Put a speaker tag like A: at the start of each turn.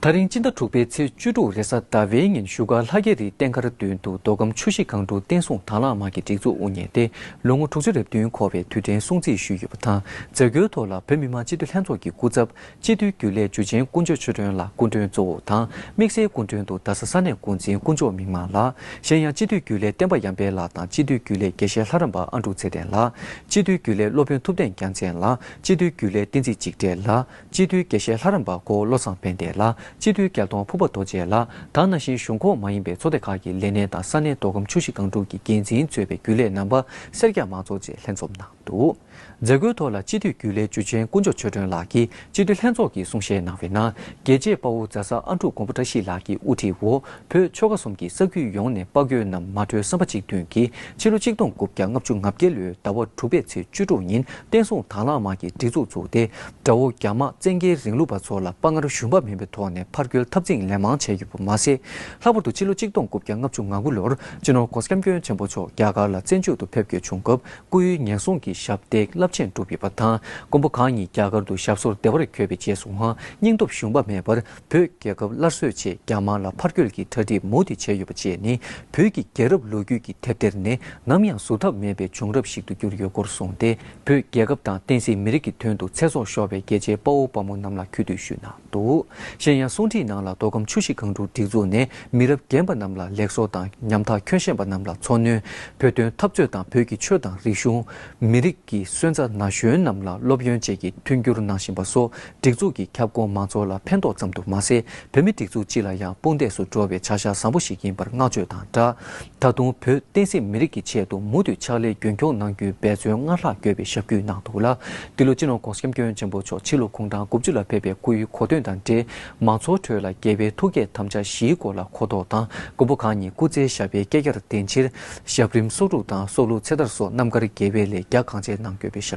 A: ཐག་རིང་སྤྱི་ཟླ་དྲུག་པའི་ཚེས་བཅུ་དྲུག་རེས་གཟའ་ཟླ་བའི་ཉིན་བཞུགས་སྒར་ལྷ་རྒྱལ་རིའི་རྟེན་མཁར་མདུན་དུ་མདོ་ཁམས་ཆུ་བཞི་སྒང་དྲུག་བསྟན་སྲུང་དྭངས་བླངས་དམག་གི་སྒྲིག་འཛུགས་དབུ་བརྙེས་ཏེ་ལོ་ངོ་དྲུག་ཅུ་རེ་བདུན་འཁོར་བའི་དུས་དྲན་སྲུང་བརྩི་ཞུས་ཡོད་པ་དང་མཛད་སྒོའི་ཐོག་ལ་བོད་མི་མང་སྤྱི་འཐུས་ལྷན་ཚོགས་ཀྱི་སྐུ་ཚབ་སྤྱི་འཐུས་རྒྱུན་ལས་འཇུ་ཆེན་ཀུན་སྤྱོད་ཆོས་སྒྲོན་ལགས་སྐུ་མགྲོན་གཙོ་བོ་དང་དམིགས་བསལ་སྐུ་མགྲོན་དུ་རྡ་ས་ས་གནས་འགོ་འཛིན་དཀོན་མཆོག་མིག་མངས་ལགས་གཞན་ཡང་སྤྱི་འཐུས་རྒྱུན་ལས་བསྟན་པ་ཡངས་དཔལ་ལགས་དང་སྤྱི་འཐུས་རྒྱུན་ལས་དགེ་བཤེས་ལྷ་རམས་པ་ཨ་འབྲུག་ཚེ་བརྟན་ལགས་སྤྱི་འཐུས་རྒྱུན་ལས་སློབ་དཔོན་ཐུབ་བསྟན་རྒྱ་མཚན་ལགས་སྤྱི་འཐུས་རྒྱུན་ལས་བསྟན་འཛིན་འཇིགས་བྲལ་ལགས། སྤྱི་འཐུས་དགེ་བཤེས་ལྷ་རམས་པ་འཁོར་བློ་ཚང་ཕན་བདེ་ལགས་སྤྱི་འཐུས་སྐལ་སྟོང་ཕུར་པ་རྡོ་རྗེ་ལགས་དང་ན་གཞོན་གཞུང་ཁོངས་མ་ཡིན་པའི་ཚོགས་སྡེ་ཁག་གི་ལས་སྣེ་དང་ས་གནས་མདོ་ཁམས་ཆུ་བཞི་སྒང་དྲུག་གི་འགན་འཛིན་གཙོས་པའི་རྒྱུན་ལས་རྣམ་པ་སེར་སྐྱ་མང་ཚོགས་བཅས་ལྷན་འཛོམས་གནང་འདུག་མཛད་སྒོའི་ཐོག་ལ་སྤྱི་འཐུས་རྒྱུན་ལས་འཇུ་ཆེན་དཀོན་མཆོག་ཆོས་སྒྲོན་ལགས་ཀྱིས་སྤྱི་འཐུས་ལྷན་ཚོགས་ཀྱི་གསུང་བཤད་གནང་བའི་ནང་རྒྱལ་གཅེས་དཔའ་བོ་རྫ་ས་ཨ་འབྲུག་མགོན་པོ་བཀྲ་ཤིས་ལགས་ཀྱི་དབུ་ཁྲིད་འོག་བོད་ཆོལ་ཁ་གསུམ་གྱི་ས་ཁུལ་ཡོངས་ནས་དཔའ་རྒོད་རྣམས་མ་གྲོས་བསམ་པ་གཅིག་མཐུན་གྱིས་ཕྱི་ལོ་གཅིག་སྟོང་དགུ་བརྒྱ་ལྔ་བཅུ་ང་བརྒྱད་ལོའི་ཟླ་བ་དྲུག་པའི་ཚེས་བཅུ་དྲུག་ཉིན་བསྟན་སྲུང་དྭང་བླངས་དམག་གི་སྒྲིག་འཛུགས་བཙུགས་ཏེ་དགྲ་བོ་རྒྱ་དམག་བཙན་རྒྱལ་རིང་ལུགས་པ་ཚོ་ལ་དཔའ་ངར་ཞུམ་པ་མིན་པའི་ཐོག་ནས་ཕར་རྒོལ་འཐབ་འཛིང་ལན་མང་བྱས་ཡོད་པ་མ་ཟད། ལྷག་པར་དུ་ཕྱི་ལོ་གཅིག་སྟོང་དགུ་བརྒྱ་ལྔ་བཅུ་ང་དགུ་ལོར་སྤྱི་ནོར ྋགོང་ས ྋསྐྱབས་མགོན་ཆེན་པོ་མཆོག་རྒྱ་གར་ལ་བཙན་བྱོལ་དུ་ཕེབས་བསྐྱོད་བྱུང་སྐབས་སྐུ་ཡི་ཉེན་སྲུང་གི་ཞབས་འདེགས་རླབས་ཆེན་བསྒྲུབས་ཡོད་པ་དང་མགོན་པོ་གང་ཉིད་རྒྱ་གར་དུ་ཞབས་སོར་བདེ་བར་འཁོད་པའི་རྗེས་སུའང་སྙིང་སྟོབས་ཞུམ་པ་མེད་པར་བོད་རྒྱལ་ཁབ་སླར་གསོའི་ཆེད་རྒྱ་དམར་ལ་ཕར་སྐྱོད་ཀྱི་གྲ་སྒྲིག་མུ་མཐུད་བྱས་ཡོད་པ་བཅས་ནི་བོད་ཀྱི་རྒྱལ་རབས་ལོ་རྒྱུས་ཀྱི་དེབ་ཐེར་ནས་ནམ་ཡང་གཟུགས་ཐབས་མེད་པའི་བྱུང་རབས་ཤིག་ཏུ་གྱུར་ཡོད་སྐོར་གསུངས་ཏེ་བོད་རྒྱལ་ཁབ་དང་བསྟན་སྲིད་མི་རིགས་ཀྱི་དོན་དུ་ཚེ་སྲོག་ཤོར་བའི་རྒྱལ་གཅེས་དཔའ་བོ་དཔའ་མོ་རྣམས་ལ་གུས་འདུད་ཞུས་གནང་འདུག་གཞན་ཡང་གསུང་འཕྲིན་ནང་ལ་མདོ་ཁམས་ཆུ་བཞི་སྒང་དྲུག་སྒྲིག་འཛུགས་ནས་མི་རབས་རྒན་པ་རྣམས་ལ་ལེགས་སོ་དང་ཉམ་ཐག་ཁྱོད་ཤེས་པ་རྣམས་ལ་འཚོ་སྣོན་བོད་དོན་འཐབ་རྩོད་དང་བོད་ཀྱི་ཆོས་དང་རིག་གཞུང། མི་རིགས་ཀྱི་སོན་རྩ་ན་གཞོན་རྣམས་ལ་སློབ་ཡོན་བཅས་ཀྱི་མཐུན་འགྱུར་གནང་བཞིན་པ་སོགས་སྒྲིག་འཛུགས་ཀྱི་ཁྱབ་ཁོངས་མང་ཚོགས་ལ་ཕན་ཐོགས་ཙམ་དུ་མ་ཟད་བོད་མི་སྒྲིག་འཛུགས་སྤྱི་ལ་ཡང་དཔུང་འདེགས་སུ་འགྲོ་བའི་བྱ་གཞག་བཟང་པོ་ཞིག་ཡིན་པར་བསྔགས་བརྗོད་དང་སྦྲགས། ད་དུང་བོད་བསྟན་སྲིད་མི་རིགས་ཀྱི་ཆེད་དུ་མུ་མཐུད་ཕྱག་ལས་རྒྱུན་འཁྱོངས་གནང་རྒྱུའི་འབད་བརྩོན་སྔར་ལྷག་རྒྱས་པའི་ཞབས་ཀྱིས་གནང་འདུག་ལ། འདི་ལོ་སྤྱི་ནོར ྋགོང་ས ྋསྐྱབས་མགོན་ཆེན་པོ་མཆོག་ཕྱི་ལོ་གུང་ཐང་དགུ་བཅུ་ལ་ཕེབས་པའི་སྐུའི་གོ་སྟོན་དང་འབྲེལ་མང་ཚོགས་ཁྲོད་ལ་རྒྱལ་བའི་ཐུགས་བསྐྱེད་དམ་བཅའ་བཞིའི་སྐོར་ལ་གོ་རྟོགས་དང་མགོན་པོ་གང་ཉིད་སྐུ་ཚེའི་ཞབས་པའི་བསྐལ་བརྒྱར་བརྟེན་ཕྱིར་ཞབས་རིམ་གསོག་སྒྲུབ་དང་སྲོག་བླུ་ཚེ་ཐར་སོགས་རྣམ་དཀར་དགེ་བའི་ལས་རྒྱ་གང་ཆེ་གནང་ཡོད་པའི་ཞབས།